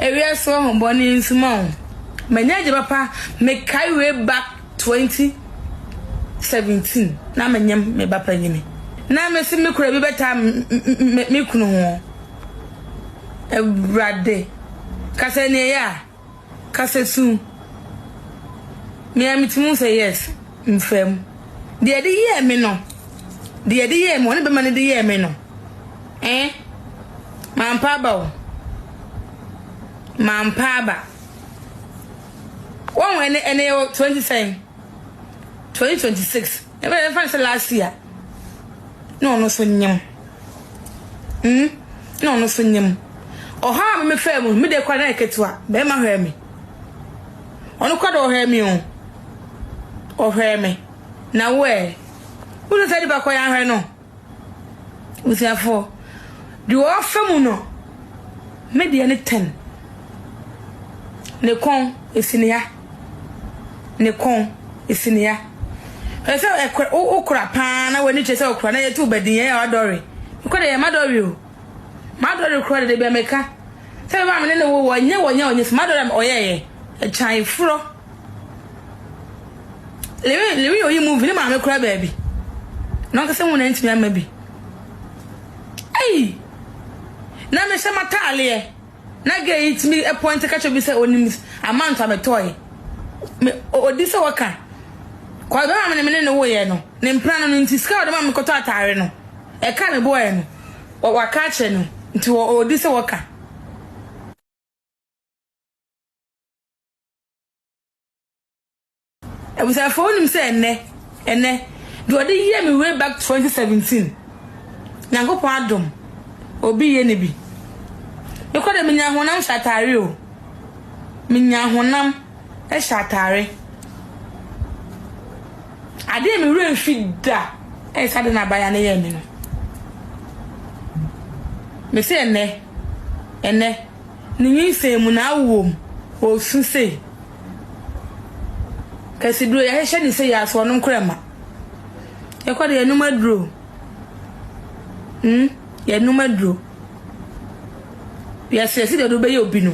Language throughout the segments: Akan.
Ewia so ho bɔ ne nsuma o. Manya agya papa me kae way back twenty seventeen na me nyem me ba panyini na me se me kura bi bɛ taa me me kunu ho awurade kasa ni ɛyɛ a kasa su me a me ti mu sɛ yes mfam deɛ de yɛɛ me no deɛ de yɛɛ me wɔne bɛma no de yɛɛ me no. Eh? Mampa aba o. Mampa aba. Wɔn ɛnɛ ɛnɛ yɛ wɔ twenty sɛn? Twenty twenty six. Ɛbɛ yɛ fan sɛ last year. Na ɔno so nyam. Hmm? Na ɔno so nyam. Ɔha a me fɛ mu, me de kora na yɛ ketewa. Bɛrima hwɛ me. Ɔno kora de ɔhwɛ me o. Ɔhwɛ me. Na wo ɛ. Wúlò sɛ ɛdi bakɔ yɛn ahwɛ no. Busuafoɔ, deɛ ɔfa mu no, me deɛ ne ten. Ne kɔn, ɛsi ne ya. Ne kɔn, ɛsi ne ya. Hwɛ sɛ ɛkora, wo- wokora paa na w'ani kyerɛ sɛ wokora na yɛte wo badinnyɛeɛ a wadɔre. Mekɔ deɛ yɛ madɔre o. Madɔre koraa de, da bi a meka sɛ me ba a me ne no wowɔ, ɛnyɛ wɔ nyɛ ɔnyɛ so. Madɔre a ɔyɛeɛ, ɛkyaeforɔ. Lewi lewi yɛ oyi movie ne maame kora baabi na ɔnkasa hu na ntumi ama bi ei na mehyɛ mataaleɛ na gɛ yi tumi pɔnte kakyɛ bi sɛ onim amanto a metɔe me odi sɛ wɔka kɔe bɛma me ne mene ne woyɛ no ne mpena no no nti sika ɔde ma me kɔtɔ ataare no ɛka ne boɔɛ no waka akyerɛ no nti odi sɛ wɔka abusuafoɔ wonim sɛ ɛnɛ ɛnɛ deɛ ɔde yɛ me way back 2017 nyankopɔn adom obi yɛ ne bi mekɔ dɛ menya honam hyɛ atare o menya honam hyɛ atare adeɛ me werɛ mfi da ɛyɛ sɛ ade na abaya no yɛ me no me sɛ ɛnɛ ɛnɛ Ne nyinsɛn mu na awo wɔn. Ɔresu sei. Kasiduro yɛahyehyɛ ne sei a so ɔnom koraa mma. Yɛkɔ de yɛnom aduro. Hmm, yɛnom aduro. Wiase yɛsi deɛ ɔde wobɛyɛ obi no.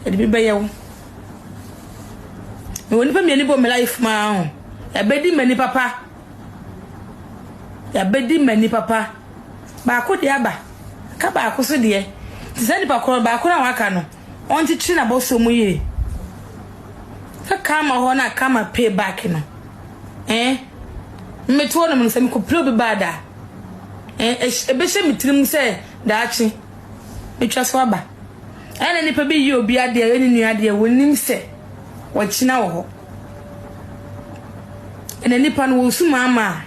Yɛde bi bɛyɛ wo. Mewɔ nipa mmienu bɔ me life maa ho. Ɛbɛdi m'ani papa. Yɛabɛdi mmani papa. Baako deɛ aba, ka baako so deɛ. Nti saa nipa korɔ no, baako no a waka no, ɔnkyekyere n'abɔsoɔ mu yie. Sɛ karma hɔ na karma pay back no, eh, mmete hɔ nom no, sɛ mekɔpira obi baa da a, eh, ɛbɛhyɛ me tirim sɛ daakye mɛtwa so aba. Ɛna nipa bi yi obi adeɛ, ɛyɛ ne nua adeɛ, wɔnim sɛ wɔkyena wɔ hɔ. Ɛna nnipa no wɔresu maamaa.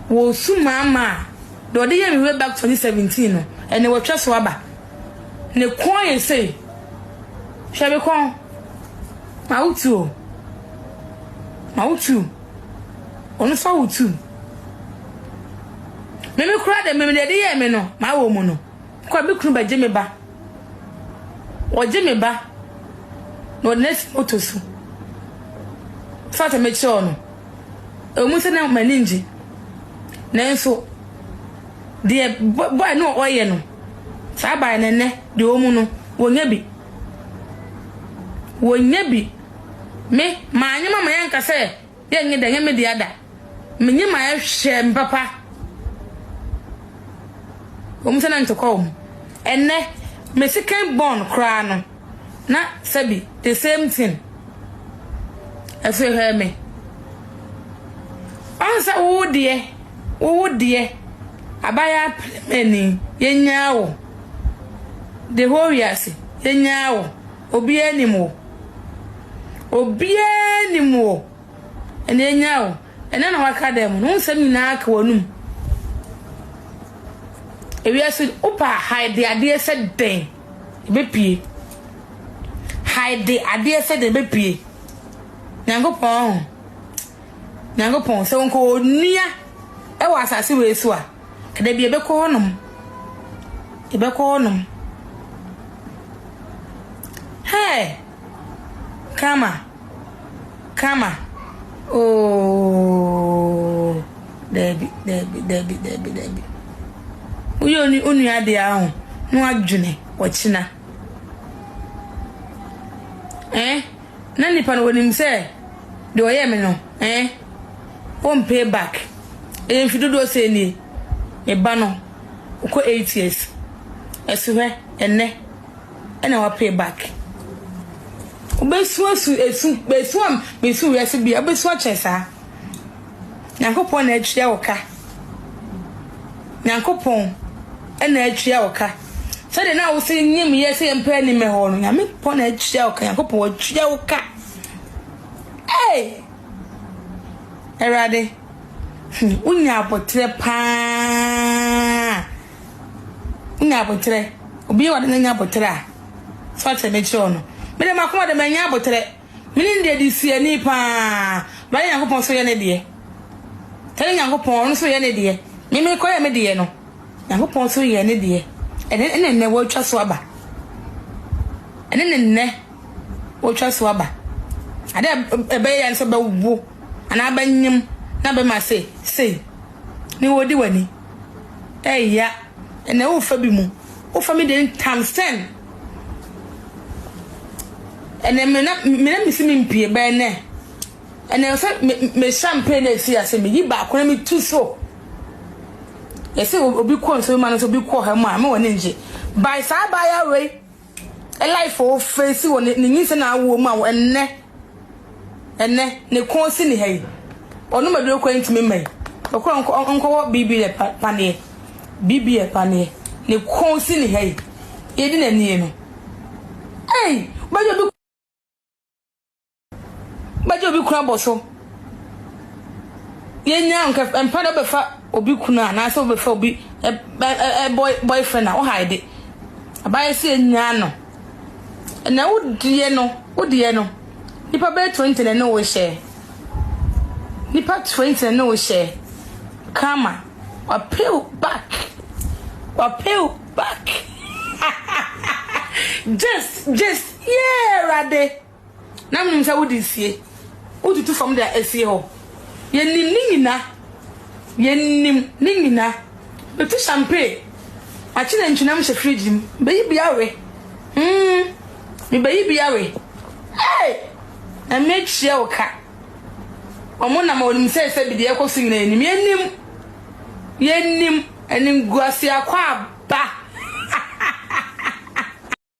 Wɔresu maamaa. Deɛ ɔde yɛ me way back 2017 no, ɛnna wɔatwa so aba. Ne kɔn ayɛ sei. Hwɛ me kɔn. Ma wo tu o. Ma wo tu. Ɔno nso awo tu. Meme koraa deɛ meme deɛ ɛde yɛɛ me no, mawɔ mu no. Kwa me kunu bɛgye me ba. Ɔgye me ba na ɔde no asi moto so fa sɛ mekyerɛw no. Ɛwɔ mu sɛ na m'ani ngye nanso deɛ bɔe no a ɔyɛ no saa baeɛ no nnɛ deɛ ɔwɔ mu no wɔnya bi. Wɔnya bi. Me, manyɛ ma ma yɛnka sɛ Yɛ nye dɛ, nye me dea da. Menye ma ɛhwɛ me papa. Wɔn sɛ na ntɔkwa wɔ mu. Ɛnnɛ, me second born koraa no, na sɛbi the same thing. Afei hwɛ me. Ɔn sɛ wo deɛ, wo wo deɛ, abaayaa pɛrɛmɛni, yɛnyaa wo. The whole wiase, yɛnyaa wo. Obiara nnim wo. Obiara nnim wo. Ɛnna enya wo. Ɛnna na waka dan mu no. Wo nsɛm nyinaa ka w'anom. Ewiase, wopɛ a hide adeɛ sɛ dɛn, ɛbɛpue. Hide adeɛ sɛ dɛn, ɛbɛpue. Nyankopɔn ho. Nyankopɔn, sɛ wɔnkɔ onua wɔ asase wei so a. Da bi yɛbɛkɔ hɔnom. Yɛbɛkɔ hɔnom. Hey! Kama. Kama. Oh! Dabi, dabi, dabi, dabi, dabi. Woyɛ onu onua ade aho na wadwene ɔkyena. Eh? Na nipa no onim sɛ deɛ ɔyɛɛ me no eh ɔn pay back ɛyɛ mfe dodoɔ sɛn nie me ba no ɔkɔ eight years ɛso hwɛ ɛnɛ ɛna wa pay back wobɛsu asu ɛsu bɛsu a mesu wiase bia wobɛsu akyɛn saa. Nyankopɔn na atua wo ka. Nyankopɔn na atua wo ka. Sɛdeɛ na wo se nyim yɛ sɛ yɛmpɛ anim hɔ no, Nyame pɔ na atua wo ka. Nyankopɔn watua wo ka. Hey! Awurade, hmm, wonya aboterɛ paa. Wonya aboterɛ. Obi yɛ wade na nya aboterɛ a, sɛ ɔkyerɛ mekyerɛ wo no. Mede makoma de manya aboterɛ. Menim deɛ de si ani paa. Awurade Nyankopɔn nso yɛ ne deɛ. Tɛne Nyankopɔn, ɔno nso yɛ ne deɛ. Me mekɔyɛ me deɛ no, Nyankopɔn nso yɛɛ ne deɛ. Ɛne ɛne nnɛ wɔatwa so aba. Ɛne ne nnɛ wɔatwa so aba. Ade a ɛbɛyɛ yɛ ne sɛ bɛwo anaa bɛnyem na bɛma se sei ne wɔdi w'ani. Ɛya ɛnɛ wofa bi mu, wofa me deɛ times ten. Ɛnɛ me na me na mesi me mpie bɛn nɛ. Ɛnɛ sɛ me me champagne na esi ase me yi baako na me tu so. Yɛsɛ obi kɔ nsuo ma no so obi kɔ ha mu a me wɔ ne ngye. By saa abaayewa wei life o face wɔ ne ne nyinsɛn a awoɔ mu a ɛnɛ. Ɛnnɛ, ne kɔn si ne ha yi. Ɔnom aduro koraa ntumi mma yi. Ɔkɔ nkɔ nkɔwɔ biribi yɛ pa paneɛ. Biribi yɛ paneɛ. Ne kɔn si ne ha yi. Yɛdi n'anie no. Ei! Wobɛgye obi wobɛgye obi kunu abɔ so. Yɛnyaa nka mpa na wobɛfa obi kunu a anaasɛ wobɛfa obi ɛ ɛ ɛ boy boyfriend a wohaede. Abayɛ sɛ yɛnyaa no. Na wo deɛ no, wo deɛ no, nipa bɛyɛ twenty na ne wo hyɛ. Nipa twenty na ne wo hyɛ. Kama. Wapew back. Wapew back. just, just, yeah, Awurade. Na menim sɛ wode sie. Wotutu fam de a, esie hɔ. Yenim ne nyina. Yenim ne nyina. Metu champagne. Makye nantwinam hyɛ fridge mu. Mebeyi bi awe. Hmm. Mebeyi bi awe. Hey! Nyame atua wo ka. Wɔn nam a wɔnim sɛ sɛ bi deɛ ɛkɔ so nyina yenim. Yenim. Yenim. Animguaseɛ akwaaba.